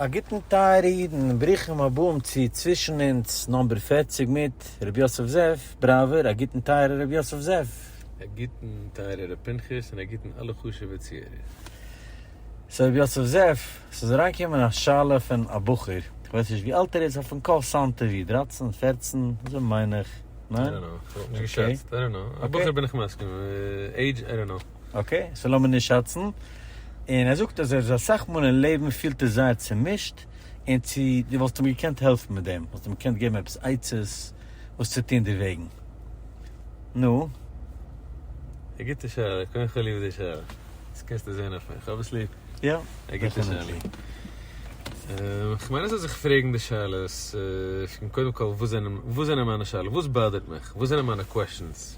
א גוטן טייערע אידן, ברוכים הבאים צו צווישן אונז נאמבער פֿערציק מיט ר' יוסף זאב בראווער, א גוטן טייערע ר' יוסף זאב. א גוטן טייערע ר' פנחס און א גוטן אלע חשובע צוהערער. סאו ר' יוסף זאב, ס'איז אריינגעקומען א שאלה פון א בחור, איך ווייס נישט ווי אלט ער איז, אויף אן קול סאונדט ער ווי דרײַצן פֿערצן אזוי מיין איך, ניין? אוקיי. אוקיי. אקעי, סאו לאמיר נישט שאצן. און ער זאגט אז ער איז אסאך מאל אין לעבן פילט ער זייער צומישט, און צו דו וואלסט אים געקענט העלפן מיט דעם? וואלסט אים געקענט געבן עפעס עצות וואס צו טון דערוועגן? נו? א גוטע שאלה, קודם כל ליב די שאלה. דאס קענסטו זען אויף מיר, איך האב עס ליב. יא, דעפינעטלי. כ'מיין עס זאל זיך פרעגן די שאלות, קודם כל וואס זענען מיינע שאלות? וואס באדערט מיך? וואס זענען מיינע קוועשאנס?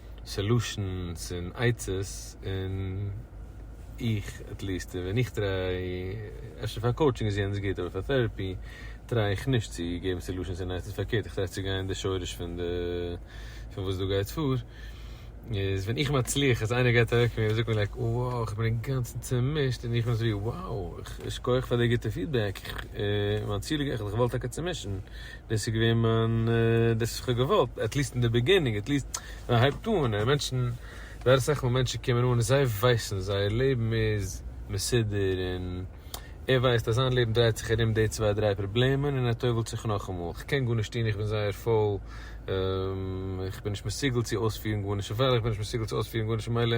סעלושענס און עצות און איך עטליעסט ווען איך טריי אפשר פאר קאוטשינג איז יענץ גוט אבער פאר טערעפי טריי איך נישט צו געבן סעלושענס און עצות פארקערט איך טריי צו גיין אין די שורש פון די פון וואס דא גייט פאר איז ווען איך מצליח אז איינער גייט אוועק פון מיר און זאגט מיר לייק וואו איך בין אינגאנצן צומישט און איך בין אזויווי וואו שכוח פאר די גוטע פידבעק איך מיין ציל איז גערעכט איך וועל טאקע צומישן דאס איז געווען מיין, דאס וואס איך האב געוואלט, עטליסט אין די ביגינינג, עטליסט ווען מען הייבט אן, און מענטשן, זייער אסאך מאל מענטשן קומען אן און זיי ווייסן, זייער לעבן איז מסודר, און ער ווייסט אז זיין לעבן דרייט זיך ארום די צוויי דריי פראבלעמען, און ער טובל'ט זיך נאכאמאל, איך קען גארנישט טון, איך בין זייער פויל, איך בין נישט מסוגל צו אויספירן גארנישט, אויף וועלכע איך בין נישט מסוגל צו אויספירן גארנישט ממילא.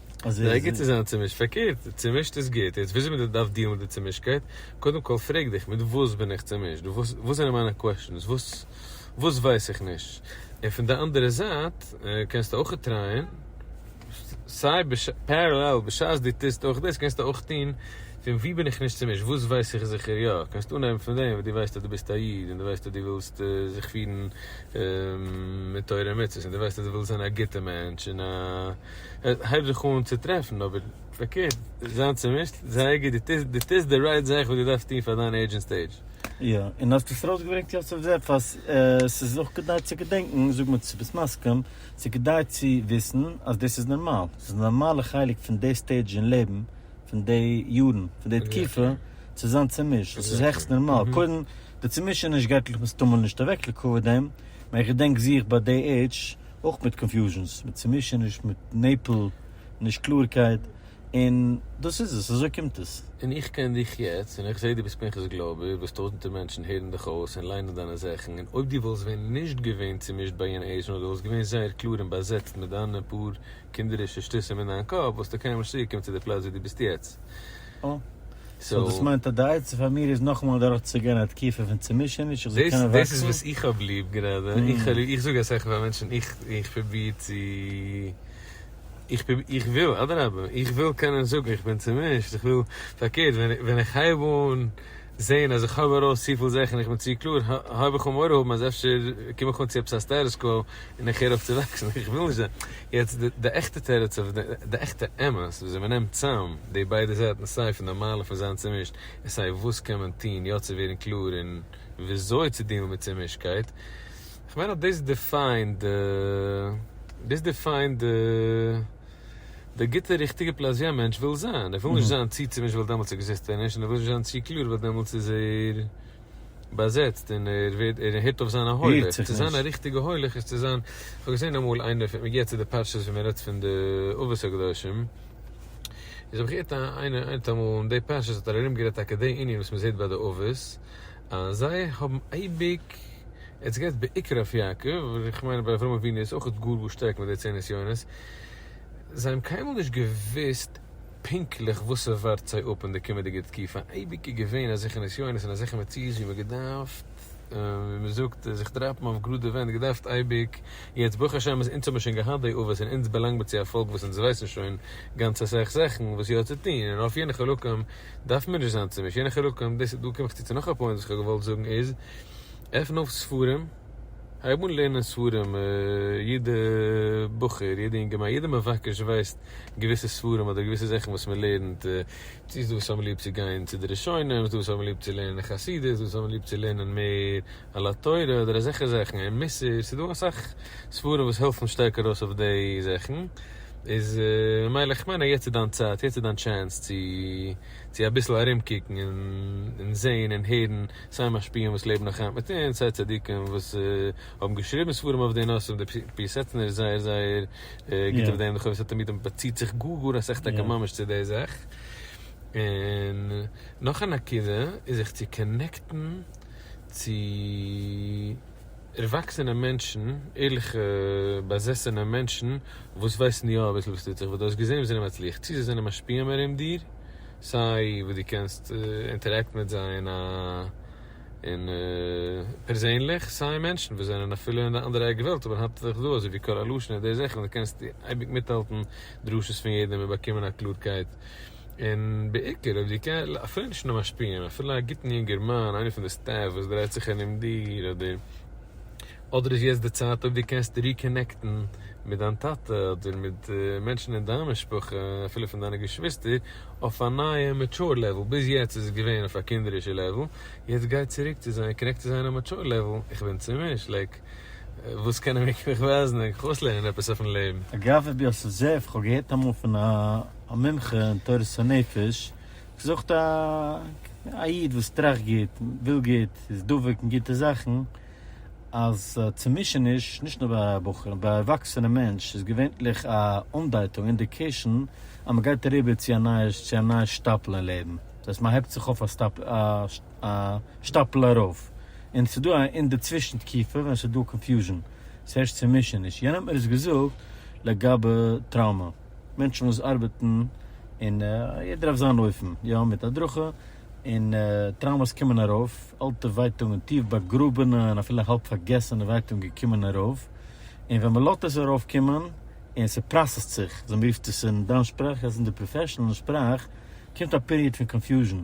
רגע צו זיין צומישט, פארקערט, צומישט איז גוט, יעצט וויאזוי מען דארף דילן מיט די צומישטקייט, קודם כל פרעג דיך, מיט וואס בין איך צומישט, וואס זענען מיינע קוועשאנס, וואס ווייס איך נישט, און פון די אנדערע זייט קענסטו אויך טרייען, סיי פערעלעל בשעת דו טוסט אויך דאס קענסטו אויך טון, פון וואו בין איך נישט צומישט, וואס ווייס איך זיכער יא, קענסט אנהייבן פון דעם וואס דו ווייסט אז דו ביסט א איד, און דו ווייסט אז דו ווילסט זיך פירן מיט תורה ומצוות, און דו ווייסט אז דו ווילסט זיין א גוטע מענטש, און א. הייב זיך אן צו טרעפן אבער פארקערט זיין צומישט זייער גוט דו טוסט די רייט זאך וואס דו דארפסט טון פאר דיין עידזש און סטעידזש. יא, און האסט עס ארויסגעברענגט יוסף זאב אז עס איז אויך כדאי צו געדענקן, זאג מיר צו ביסט מסכים, עס איז כדאי צו וויסן אז דאס איז נארמאל, עס איז א נארמאלע חלק פון די סטעידזש אין לעבן, פון די יארן, פון די תקופה, צו זיין צומישט, דאס איז העכסט נארמאל, קודם די צומישעניש גייט לכ' מסתמא נישט אוועק לקח דעם, מען איך געדענק זיך ביי די עידזש, אויך מיט קאנפיוזשענס, מיט צומישעניש, מיט נעפל, נישט קלארקייט, און דאס איז עס, אזוי קומט עס. און איך קען דיך יעצט, און איך זע דו ביסט פנחס גלאבער, וואס טויזענטער מענטשן הערן דיך אויס און ליינען דיינע זאכן, און אויב דו וואלסט ווען נישט געווען צומישט ביי יענע עיזש, נאר דו וואלסט געווען זייער קלאר און באזעצט מיט דיינע פאר קינדערישע שטותים אין דיין קאפ, וואלסטו קיינמאל נישט צוריקגעקומען צו די פלאץ וואו דו ביסט יעצט. אה. סאו דאס מיינט אז די עצה פאר מיר איז נאכאמאל אדורך צו גיין א תקופה פון צומישעניש איך זאל קענען וואקסן? דאס איז וואס איך האב ליב גראדע, איך זאג אסאך פאר מענטשן איך איך פרוביר צו איך איך וויל אדרבה איך וויל קענען זאגן איך בין צומישט איך וויל פארקערט ווען איך הייב אן זעהן אז איך האב ארויס צופיל זעך און איך בין צו קלאר, הויב איך אן מורא האבן אז אפשר קום איך אן צו עפעס א סטעטוס קווא און איך הער אויף צו וואקסן, איך וויל נישט זיין. יעצט די עכטע תירוץ אויף די, די עכטע אמת, וויאזוי מ'נעמט צאם די ביידע זייטן סיי פון די מעלה פון זיין צומישט און סיי וואס קען מען טון יא צו ווערן קלאר און וויאזוי צו דילן מיט צומישטקייט, כ'מיין אז דאס דיפיינד די, דאס דיפיינד די. דער גוטער ריכטיגער פלאזיא מענטש וויל זיין, ער וויל נישט זיין צו צומישט ווייל דעמאלטס עקזיסט ער נישט, און ער וויל נישט זיין צו קלאר ווייל דעמאלטס איז ער באזעצט און ער ווערט ער הערט אויף זיין א הולך. צו זיין א ריכטיגע הולך איז צו זיין, כ'האב געזען אמאל איינער, פון מ'גיבט צו די פרשיות ווי מ'רעדט פון די אבות הקדושים, איז האב איך געהערט איינער איינער אמאל אין די פרשיות האט ער ארומגערעדט טאקע די ענין וואס מ'זעט ביי די אבות אז זיי האבן אייביג, עטס גייטס בעיקר אויף יעקב, אבער איך מיין אז ביי אברהם אבינו איז אויכעט גאר גאר שטארק מיט די צען נסיונות. זיי האבן קיינמאל נישט געוואוסט פונקטליך וואס ס'ווארט זיי אפ אין די קומענדיגע תקופה, אייביג איז געווען אזעלכע נסיונות און אזעלכע מציאות ווי מ'געדארפט, ווי מ'זאגט, זיך דראפן אויף גראדע ווענט, געדארפט אייביג, יעצט ברוך השם אז אונז האבן שוין געהאט די אבות און אונז באלאנגט מיר צו א פאלק וואס אונז ווייסן שוין גאנץ אסאך זאכן וואס יא צו טון און אויף יענע חלקים דארפן מיר נישט זיין צומישט, יענע חלקים, דאס איז, דא קום איך צו צו נאך א פוינט וואס איך האב געוואלט זאגן איז. עפן אויף ספרים, הייב אן לערנען ספרים, יעדע בחור, יעדע אינגערמאן, יעדע מבקש ווייסט געוויסע ספרים אדער געוויסע זאכן וואס מען לערנט, צו ס'דא וואס האבן ליב צו גיין צו די ראשונים, ס'דא וואס האבן ליב צו לערנען חסידות, ס'דא וואס האבן ליב צו לערנען מער על התורה אדער אזעלכע זאכן, און מוסר, ס'דא אסאך ספרים וואס העלפן שטארק ארויס אויף די זאכן, איז ממילא כ'מיין אז יעצט איז דיין צייט, יעצט איז דיין טשענס צו. צו אביסל ארומקוקן און זעהן און הערן סיי משפיעים וואס לעבן נאך היינט מיט אונז, סיי צדיקים וואס האבן געשריבן ספרים אויף די נושאים, דער פיאסעצנער איז זייער זייער גוט אויף דעם, די חובת התלמידים באציט זיך גאר גאר אסאך טאקע ממש צו די זאך, און נאך א נקודה איז זיך צו קאנעקטן צו. ערוואקסענע מענטשן, ערליכע באזעסענע מענטשן, וואס ווייסן יא אביסל וואס טוט זיך, וואס דו האסט געזען וואס זענען מצליח, צי זיי זענען משפיעים ארום דיר, סיי וואס דו קענסט אינטערעקט מיט זיי אין א אין פערזענליך, סיי מענטשן וואס זענען אפילו אין די אנדערע עק וועלט אבער האלטן זיך דא, אזוי ווי קאראלושנע, די זאכן, דו קענסט אייביג מיטהאלטן דרשות פון יעדעם און באקומען א קלארקייט און בעיקר אויב דו קענסט אפילו נישט א משפיען אפילו א גוטן יונגערמאן איינער פון די סטעף וואס דרייט זיך ארום דיר אדער אדער איז יעצט די צייט אויב דו קענסט ריקאנעקטן מיט דיין טאטע אדער מיט מענטשן אין דיין משפחה אפילו פון דיינע געשוויסטער אויף א נייע מעטשור לעוועל ביז יעצט איז עס געווען אויף א קינדערישע לעוועל יעצט גיי צוריק צו זיי קאנעקט צו זיי אין א מעטשור לעוועל איך בין צומישט לייק וואס קענען מיר מיך ווייזן איך גיי אויסלערנען עפעס אויפן לעבן. אגב, עפי ס זע איך, כ'האב געהערט אמאל פון א. א מומחה אין תורת הנפש, געזאגט א איד וואס טראכט גוט, וויל גוט, איז דבוק אין גוטע זאכן, אז צומישעניש, נישט נאר ביי בחורים, ביי ערוואקסענע מענטש, איז געווענטליך א אנדייטונג, אינדיקעישאן, אז מען גייט אריבער צו א נייע שטאפל אין לעבן. דאס הייסט מען הייבט זיך אויף א שטאפל ארויף, און עס איז דא א אינדערצווישן תקופה ווען עס איז דא קאנפיוזשן, עס הערשט צומישעניש. יענער האט מיר עס געזאגט לגבי טראומא. מענטשן וואס ארבעטן און יעדער אויף זיין אופן, יא מיט הדרכה, און טראומאס קומען ארויף, אלטע ווייטאגן, טיף באגראבענע און אפילו האלב פארגעסענע ווייטאגן קומען ארויף, און ווען מען לאזט עס ארויף קומען און ס'פראסעסט זיך, אזוי מען רופט עס אין דיין שפראך, יעצט אין די פראפעשענעל שפראך, קומט א פיריעד פון קאנפיוזשען.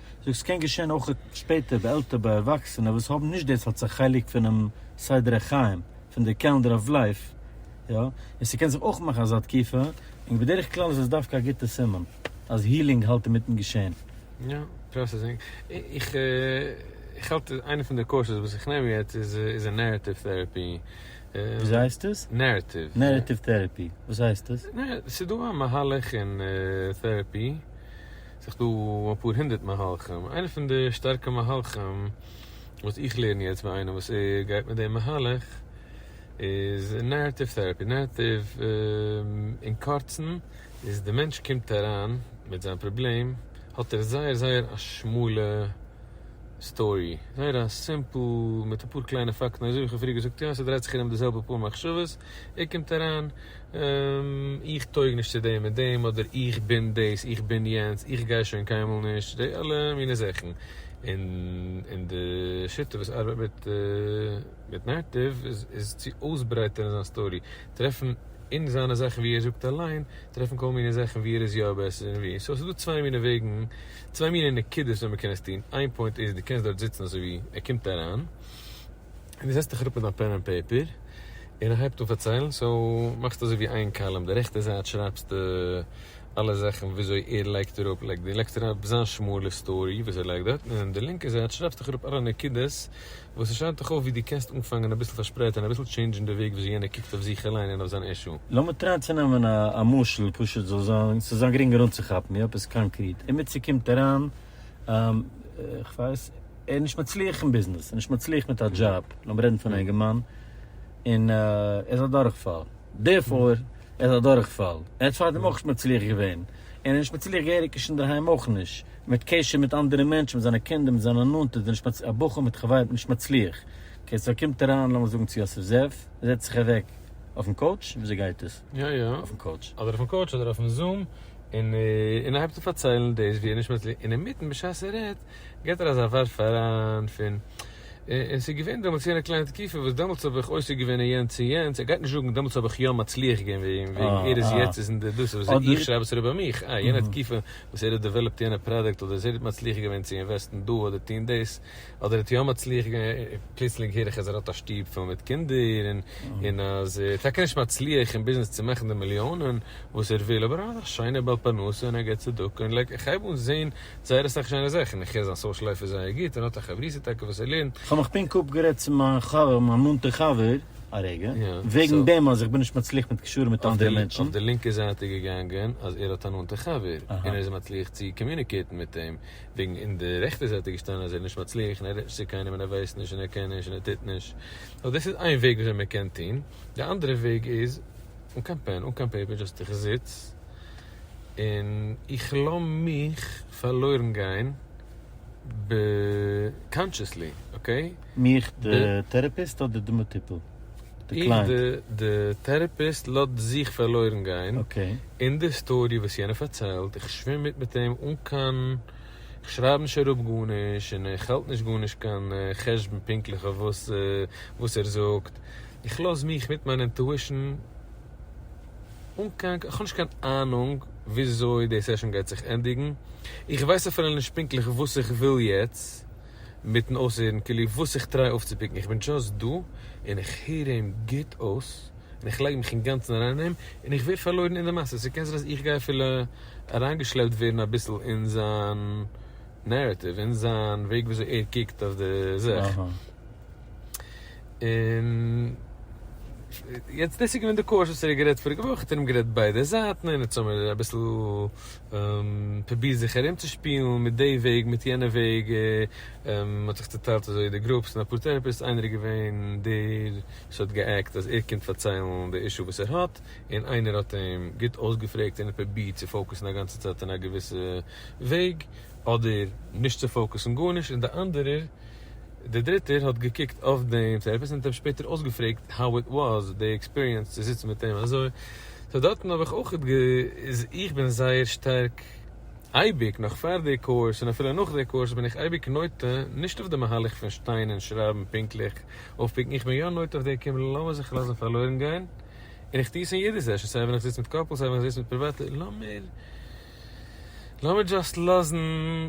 זאגסט ס'קען געשען אויך שפעטער ביי עלטער ביי ערוואקסענע וואס האבן נישט דאס אלס א חלק פונעם סדר החיים פון די קעלענדער אוו לייף יא און ס'קען זיך אויך מאכן אזא תקופה און בדרך כלל איז עס דווקא א גוטע סימן אז הילינג האלט אינמיטן געשען. יא, פראסעסינג. איך האלט איינע פון די קורסעס וואס איך נעם יעצט איז אין נערעטיוו טעראפי. וויאזוי הייסט עס? נערעטיוו. נערעטיוו טעראפי, וואס הייסט עס? ס'איז דא א מהלך אין טעראפי ס'איז דא אפאר הונדערט מהלכים, איינע פון די שטארקע מהלכים וואס איך לערן יעצט ביי איינעם וואס ער גייט מיט די מהלך איז נערעטיוו טעראפי, נערעטיוו אין קורצן איז די מענטש קומט אריין מיט זיין פראבלעם האט ער זייער זייער א שמאלע סטארי, זייער א סימפל מיט אפאר קליינע פאקטן אזוי ווי איך האב פריער געזאגט יא ס'דרייט זיך ארום די זעלבע פאר מחשבות, ער קומט אריין איך טויג נישט צו דעם און דעם אדער איך בין דאס איך בין יענץ איך גיי שוין קיינמאל נישט די אלע מיני זאכן און די שיטה וואס ארבעט מיט נערטיוו איז צו אויסברייטערן זיין סטארי טרעפן אין זיינע זאכן ווי ער זאגט אליין טרעפן כל מיני זאכן ווי ער איז יא בעסער און ווי סאו עס איז דא צוויי מיני וועגן צוויי מיני נקודות ווי מען קען עס טון איין פוינט איז די קענסט דארט זיצן אזוי ווי ער קומט אריין. און דו זעצט דיך אראפ מיט דיין פען ענד פעיפער און ער הייבט אן פארציילן, סאו מאכסטו אזוי ווי איין קאלום, די רעכטע זייט שרייבסטו אלע זאכן וויאזוי ער לייגט אראפ, לייגט דו לייגסט אראפ זיין שמאלע סטארי וואס ער לייגט דארטן, און די לינקע זייט שרייבסט דיך אראפ אלע נקודות וואס עס שיינט דיך אויף ווי דו קענסט אנפאנגען אביסל פארשפרייט און אביסל טשעינדזשן די וועג וויאזוי יענער קוקט אויף זיך אליין און אויף זיין אישו. לאמיר טרייען צו נעמען א משל פשוט זאל זיין ס'זאל זיין גרינגער אנצוכאפן ווי עפעס קאנקריט, אימיצער קומט אריין איך ווייס ער איז נישט מצליח אין ביזנעס, ער איז נישט מצליח מיט א דזשאב, לאמיר רעדן פון אינגערמאן, און ער איז א דורכפאל, דערפאר ער איז א דורכפאל, ער האט פארדעם אויך נישט מצליח געווען, און ער איז נישט מצליח געהעריג נישט אינדערהיים אויך נישט, מיט קשר מיט אנדערע מענטשן, מיט זיינע קינדער, מיט זיינע נאנטע, איז ער נישט מצליח, א בחור מיט חברים, נישט מצליח, אקעי, סאו קומט אריין לאמיר זאגן צו יוסף זאב, זעצט זיך אוועק אויפן קאוטש, וויאזוי גייט עס? יא יא. אויפן קאוטש. אדער אויפן קאוטש אדער אויפן זום, און און ער הייבט אן פארציילן דאס ווי ער נישט מער, און אינמיטן בשעת ער רעדט געט ער אזא ווארף אריין פון, און ס'איז געווען דעמאלטס יענע קליינע תקופה וואס דעמאלטס האב איך עוסק געווען אין יענץ און יענץ, ער גייט נישט זאגן דעמאלטס האב איך יא מצליח געווען ווי אים, וועגן ער איז יעצט איז אין די דאס איז וואס איך שרייב עס אריבער מיך, אה יענע תקופה וואס ער האט דעוועלאפט יענע פראדוקט אדער ער איז מצליח געווען צו אינוועסטן דא אדער טון דאס, אדער האט יום מצליח געווען און פלוצלינג הער איך אז ער האט א שטוב פול מיט קינדער און און אז ער איז טאקע נישט מצליח אין ביזנעס צו מאכן די מיליאנען וואס ער וויל אבער ער האט א שיינע בעל פרנסה און ער געבט צדקה און לייק איך הייב אן זעהן זייער אסאך שיינע זאכן איך הער זיין סאושעל לייף איז זייער גוט און האט א חברותא טאקע וואס ער לערנט כ'האב מיך פונק אפגערעדט צו מיין חבר, מיין נאנטע חבר, א רגע, וועגן דעם אז איך בין נישט מצליח מיט קשרים מיט אנדערע מענטשן. אויף די לינקע זייט איז געגאנגען אז ער האט א נאנטע חבר און ער איז מצליח צו קאמיוניקעיטן מיט אים. וועגן אין די רעכטע זייט איז געשטאנען אז ער איז נישט מצליח און ער רעדט נישט צו קיינעם און ער ווייסט נישט און ער קען נישט און ער טוט נישט, נו דאס איז איין וועג וויאזוי מען קען טון, די אנדערע וועג איז אן קיין פען אן קיין פעיפער דזשאסט איך זיץ און איך לאמיך פארלוירן גיין ב קאנטשעסלי אקעי. מיך די טערעפיסט אדער די מטופל? און די טערעפיסט לאזט זיך פארלוירן גיין אין די סטארי וואס יענער פארציילט, איך שווים מיט מיט אים אן קיין, איך שרייב נישט אראפ גארנישט און איך האלט נישט גארנישט קיין חשבון פונקטליך אויף וואס וואס ער זאגט, איך לאז מיך מיט מיין אינטואישן אן קיין, איך האב נישט קיין אהנונג וויאזוי די סעשאן גייט זיך ענדיגן, איך ווייס אפילו נישט פונקטליך וואס איך וויל יעצט. מיטן אויסהערן כאילו וואס איך טריי אויפצופיקן, איך בין דשאסט דא און איך הער אים גוט אויס און איך לייג מיך אינגאנצן אריין אין אים און איך ווער פארלוירן אין די מעשה, ס'קען זיין אז איך גיי אפילו אריינגעשלעפט ווערן אביסל אין זיין נערעטיוו, אין זיין וועג וויאזוי ער קוקט אויף די זאך, און יעצט דאס איז געווען די קאורס וואס ער האט גערעדט פאריגע וואך, האט ער אים גערעדט ביידע זייטן און האט זיי אביסל פרוביר זיך ארום צו שפילן מיט די וועג מיט יענע וועג, מען האט זיך צוטיילט אזוי די גרופס אין אפאר טערעפיסט, איינער איז געווען דער וואס האט גע'עקט אז ער קומט פארציילן די אישו וואס ער האט, און איינער האט אים גוט אויסגעפרעגט און ער האט פרובירט צו פאוקוסן א גאנצע צייט אין א געוויסע וועג, אדער נישט צו פאוקוסן גארנישט, און די אנדערער, דער דריטער, האט געקוקט אויף דעם טערעפיסט און האט אים שפעטער אויסגעפרעגט how it was, די עקספיריענס צו זיצן מיט אים אזוי. סאו דארטן האב איך אויך גע. איז איך בין זייער שטארק אייביג, נאך פאר די קורס און אפילו נאך די קורס בין איך אייביג נוטה, נישט אויף די מהלך פון שטיין און שרייבן פונקטליך אויפפיקן, איך בין יא נוטה אויף די כמ לאמיר זיך לאזן פארלוירן גיין, און איך טו עס אין יעדע סעשאן, סיי ווען איך זיץ מיט קאפלס סיי ווען איך זיץ מיט פריוואטע, לאמיר. לאמיר דזשאסט לאזן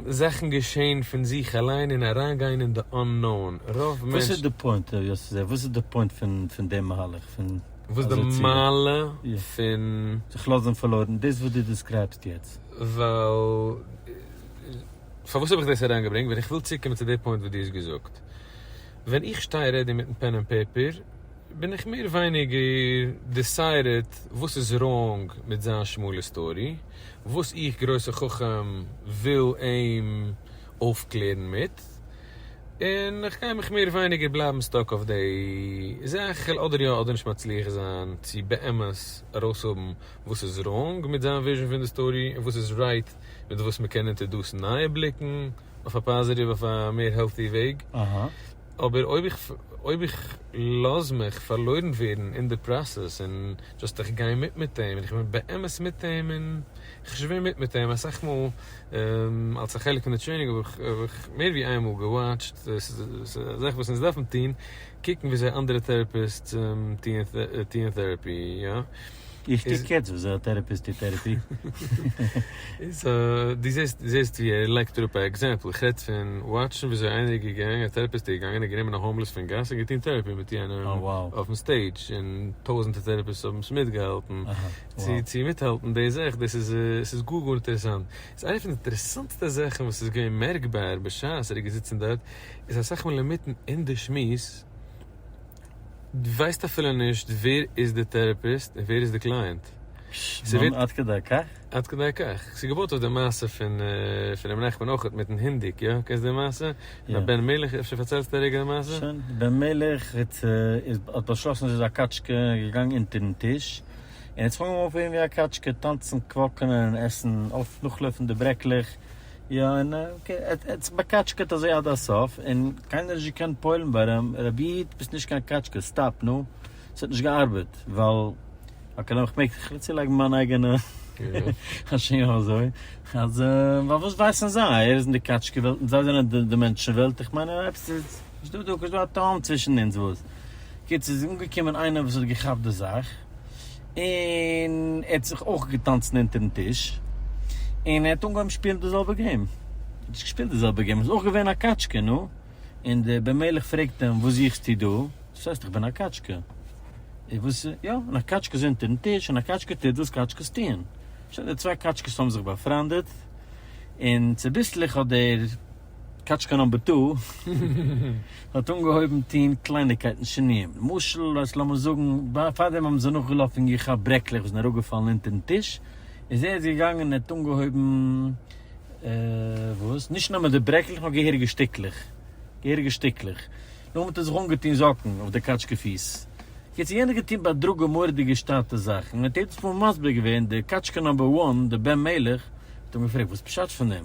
זאכן געשען פון זיך אליין און אריינגיין אין די אננאון, רוב מענטשן. וואס איז די פוינט ר' יוסי זאב? וואס איז די פוינט פון די מהלך פון. וואס די מעלה פון. זיך לאזן פארלוירן, דאס וואס דו דיסקרייבסט יעצט. ווייל, פארוואס האב איך דאס אריינגעברענגט? ווייל איך וויל צוריקקומען צו די פוינט וואס דו האסט געזאגט. ווען איך שטיי רעדי מיטן פען און פעפער בין איך מער ווייניגער דיסיידעט וואס איז ראונג מיט זיין שמאלע סטארי, וואס איך גרויסע חכם וויל אים אויפקלערן מיט, און איך גיי מיך מער ווייניגער בלייבן סטאק אויף דעי זאך אדער יא אדער נישט מצליח זיין צו באמת ארויסהאבן וואס איז ראונג מיט זיין וויזשן פון די סטארי און וואס איז רייט מיט וואס מ'קען אונטער דאס נייע בליקן. אויף א פאזיטיוו אויף א מער העלטי וועג, אבער אויב איך אויב איך לאז מיך פארלוירן ווערן אין די פראסעס און דשאסט איך גיי מיט מיט אים און איך בין באמת מיט אים און איך שווים מיט מיט אים אסאך מאל אלס א חלק פון די טרעינינג האב איך מער ווי איין מאל געוואטשט ס'איז א זאך וואס אונז דארפן טון קוקן וויאזוי אנדערע טעראפיסטס טוען טעראפי יא. איך קוק יעצט וויאזוי א טערעפיסט טוט טערעפי. איז א, דו זעסט, דו זעסט ווי ער לייגט אראפ א עקזעמפל, איך רעד פון וואטשן וויאזוי איינער איז געגאנגען, א טערעפיסט איז געגאנגען און גענומען א האומלעס פון גאס און געטון טערעפי מיט יענעם אויפן סטעידזש, און טויזענטער טערעפיסטס האבן עס מיטגעהאלטן, צו צו מיטהאלטן די זאך, דאס איז עס איז גאר גאר אינטערעסאנט, איז איינע פון די אינטערעסאנטסטע זאכן וואס איז געווען מערקבאר בשעת ער איז געזיצן דארט, איז אסאך מאל אינמיטן אין די שמועס, די ווייסט אפילו נישט ווער איז די טערעפיסט און ווער איז די קלייענט. שוואונ עד כדי כך? עד כדי כך. ס'איז געבויט אויף די מעשה פון פון רבי נחמן אויך מיטן הינדיק, יא? קענסט די מעשה? יא. בן מלך, אפשר פארציילסטו א רגע די מעשה? שוין. בן מלך האט איז האט באשלאסן ס'איז א קאטשקע געגאנגען אונטערן טיש און האט זיך אנגעהויבן אויפפירן ווי א קאטשקע, טאנצן, קוואקענען און עסן אויף נאכלויפן די ברעקלעך, יא און עטס באקאטשקעט אזוי עד הסוף און קיינער האט נישט געקענט פועל'ן ווארום רבי איד ביסט נישט קיין קאטשקע סטאפ נו ס'האט נישט געארבעט ווייל אקעי לאמיך מעג איך צולייגן מיין אייגענע השערה אזוי אז ווייל וואס ווייסן זיי ער איז אין די קאטשקע וועלט און זיי זענען די מענטשן וועלט איך מיין עפעס איז נישט דא דא א תהום צווישן אונז וואס קיצור איז אנגעקומען איינער וואס האט געכאפט די זאך. און ער האט זיך אויך געטאנצן אונטערן טיש, און ער האט אנגעהויבן שפילן די זעלבע געים, ער האט געשפילט די זעלבע געים, ער איז אויך געווען א קאטשקע, נו, און דער בן מלך פרעגט אים, וואס זוכסטו דא? דאס הייסט איך בין א קאטשקע, און וואס איז, יא, און א קאטשקע איז אונטערן טיש, און א קאטשקע טוט וואס קאטשקעס טוען, שוין, די צוויי קאטשקעס האבן זיך באפריינדעט, און צוביסלעך האט דער. קאטשקע נומבער טו האט אנגעהויבן טוהן קלייניגקייטן שינויים, למשל אז לאמיר זאגן פארדעם האבן זיי נאכגעלאפן און געכאפט ברעקלעך וואס זענען אראפגעפאלן אונטערן טיש, איז ער איז געגאנגען און ער האט אנגעהויבן וואס? נישט נאר מיט די ברעקלעך נאר געהעריגע שטיקלעך, געהעריגע שטיקלעך, נאכדעם האט ער זיך אנגעטוהן זאקן אויף די קאטשקע פיס, קיצור יענער האט געטוהן בהדרגה מורא'דיגע שטאטע זאכן, און ער האט יעדעס מאל מסביר געווען די קאטשקע נומבער וואן, די בן מלך, האט אים געפרעגט וואס פשט פון דעם?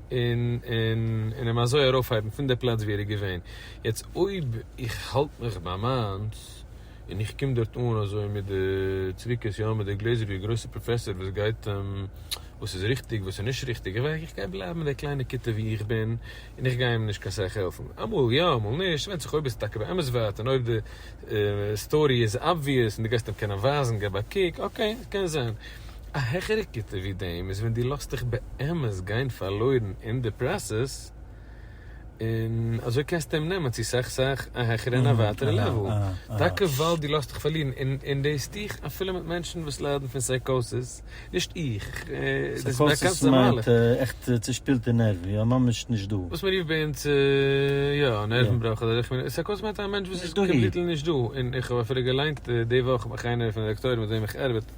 און און און אים אזוי ארויפהייבן פון די פלאץ ווי ער איז געווען, יעצט אויב איך האלט מיך ביי מיינס, און איך קום דארט אן אזוי מיט די צביקות יא מיט די גלעזער ווי א גרויסע פראפעסער וואס גייט וואס איז ריכטיג וואס איז נישט ריכטיג, איך ווייס איך גיי בלייבן די קליינע כיתה ווי איך בין, און איך גיי אים נישט קיין סאך העלפן, אמאל יא אמאל נישט, ס'ווענדט זיך אויב איז טאקע באמת ווארט, און אויב די סטארי איז אבוויעס און די גייסט אים קענען ווייזן, געב א קוק, אקעי, קען זיין. א העכערע כיתה ווי דעם איז ווען דו לאזט דיך באמת גיין פארלוירן אין די פראסעס, און אזוי קענסטו אים נעמען צו סאך סאך א העכערע און א ווייטערע לעוועל, טאקע ווייל דו לאזט דיך פארלירן, און דאס טו איך אפילו מיט מענטשן וואס ליידן פון סייקאסיס, נישט איך, דאס איז א באקאנטע מהלך. סייקאסיס מיינט עכט צושפילטע נערוון, יא ממש נישט דא. וואס מען רופט ביי אונז יא א נערוון בראך אדער איך מיין, סייקאסיס מיינט א מענטש וואס איז קאמפליטלי נישט דא, און איך האב אפילו געליינט די וואך, איך מיין איינער פון די דאקטוירים מיט וועם איך ארבעט,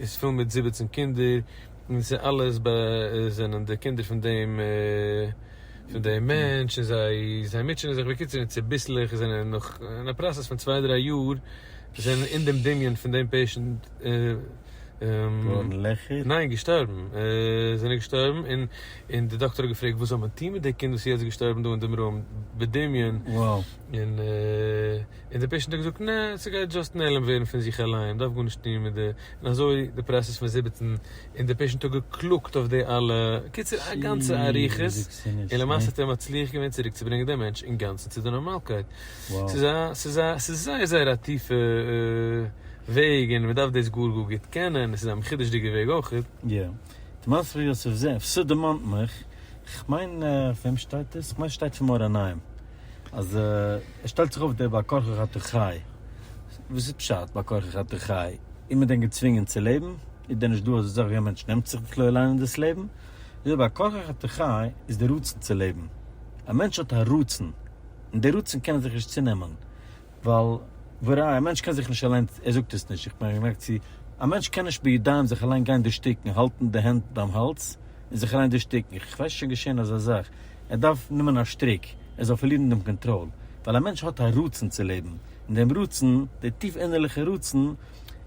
איז פול מיט זיבעצן קינדער און ס'איז אלעס ב זענען די קינדער פון דעם פון דעם מענטש און זיי זיי מוטשענען זיך בקיצור און צוביסלעך זענען נאך אין א פראסעס פון צוויי דריי יאר זענען אין דעם דמיון פון דעם פעישענט ניין געשטארבן זענען געשטארבן און און די דאקטער האט געפרעגט וואס זאל מען טון מיט די קינד וואס איז יעצט געשטארבן דא אין דעם רום בדמיון און. און די פעישענט האט געזאגט נע ס'גייט דזשאסט נעלם ווערן פון זיך אליין דארף גארנישט טון מיט די און אזוי די פראסעס פון זיבעצן און די פעישענט האט געקלאגט אויף די אלע קיצור א גאנצע אריכות און למעשה האט ער מצליח געווען צוריק צו ברענגען די מענטש אינגאנצן צו די נארמאלקייט ס'איז א ס'איז א ס'איז זייער זייער א טיפע וועג און מ'דארף דאס גאר גאר גוט קענען און ס'איז א מחודש'דיגע וועג אויכעט. יא. די מעשה פון יוסף זאב, ס'דערמאנט מיך, כ'מיין פון וועם שטייט דאס? כ'מיין ס'שטייט פון מאור עיניים. אז ער שטעלט זיך אויף דער בעל כרחך אתה חי, וואס איז פשט בעל כרחך אתה חי? איז מען דען געצווינגען צו לעבן? איז דען נישט דא אז אזויווי א מענטש נעמט זיך בכלל אריין אין דאס לעבן, אזוי בעל כרחך אתה חי איז די רצון צו לעבן, א מענטש האט א רצון, און די רצון קען ער זיך נישט צונעמען. ווייל וראי' א מענטש קען זיך נישט אליין, ער זאגט עס נישט, איך בין גענוג צו, א מענטש קען נישט בידיים זיך אליין גיין דערשטיקן, האלטן די הענט ביים האלז און זיך אליין דערשטיקן, איך ווייס שוין געשען אזא זאך, ער דארף נעמען א שטריק, ער זאל פארלירן דעם קאנטראל, ווייל א מענטש האט א רצון צו לעבן, און דעם רצון, דער טיף אינערליכער רצון,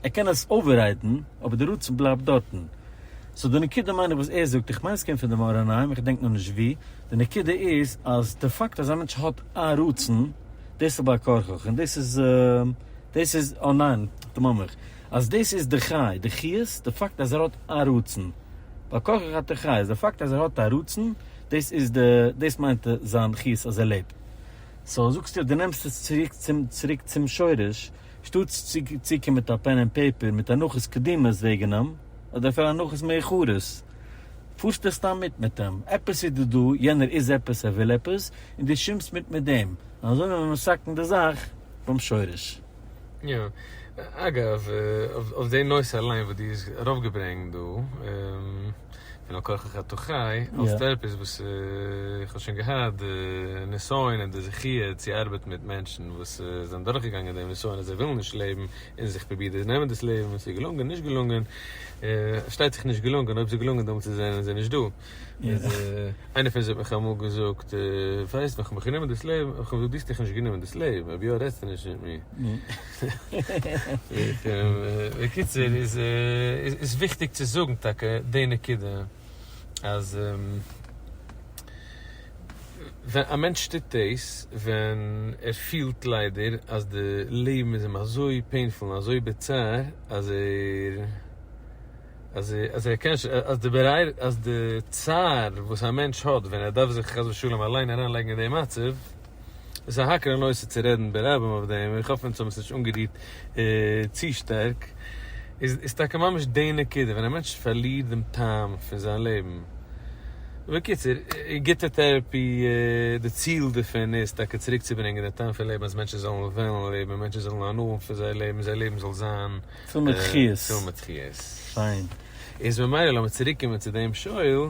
ער קען עס אוועריידן, אבער דער רצון בלייבט דארטן. סאו די נקודה מיין איך וואס ער זאגט, איך מיין עס קומט פון דעם אור עיניים, איך דענק נאר נישט וואו, די נקודה איז אז די פאקט אז א מענטש האט א רצון, דאס איז בעל כרחך און דאס איז דאס איז אה ניין דמם איך אז דאס איז די חי די חיות די פאקט אז ער האט א רצון בעל כרחך אתה חי אז די פאקט אז ער האט א רצון דאס איז די דאס מיינט זיין חיות אז ער לעבט סאו זאגסטו די נעמסט עס צוריק צום צוריק צום שורש שטאטס צו צוקומען מיט א פען ענד פעיפער מיט הנחות קדימות וועגענעם אדער אפילו הנחות מאוחרות. פארסטו סתם מיט מיט אים, עפעס איז דא דא, יענער איז עפעס, ער וויל עפעס, און דו שימסט מיט מיט דעם, און אזוי וועט מען מסכן די זאך ביים שורש. יא. אגב, אויף די נושא אליין וואס דו האסט ארויפגעברענגט דא, פון על כרחך אתה חי, האסטו עפעס וואס איך האב שוין געהאט די נסיון און די זכיה צו ארבעטן מיט מענטשן וואס זענען דורכגעגאנגען דעם נסיון אז זיי ווילן נישט לעבן און זיך פרובירט דאס נעמען דאס לעבן און ס'איז געלונגען נישט געלונגען, פארשטייט זיך נישט געלונגען אויב ס'איז געלונגען דעמאלטס זענען זיי נישט דא, איינער פון זיי האט מיך אמאל געזאגט ווייסט ווען כ'האב מיך גענומען דאס לעבן, האב איך אים געזאגט דו האסט דיך נישט גענומען דאס לעבן אויב יא רעדסטו נישט מיט מיר. בקיצור איז וויכטיג צו זאגן טאקע די נקודה. אז ווען א מענטש טוט דאס ווען ער פילט ליידער אז די לעבן איז אים אזוי פעינפול און אזוי ביטער אז ער אז אז ער קען אז די צער וואס א מענטש האט ווען ער דארף זיך חס ושלום אליין אריינלייגן אין די מצב, עס איז א האקעלע נושא צו רעדן ברבים אויף דעם, איך האף אונז האבן עס נישט אנגערירט צו שטארק, איז טאקע ממש די נקודה, ווען א מענטש פארלירט דעם טעם פון זיין לעבן. בקיצור, גוטע טעראפי, די ציל דערפון איז טאקע צוריק צו ברענגען די טעם פון לעבן אז מענטשן זאלן וועלן לעבן, מענטשן זאלן הנאה פון זייער לעבן, זייער לעבן זאל זיין פיל מיט חיות. איז ממילא לאמיר צוריק קומען צו דעם שואל,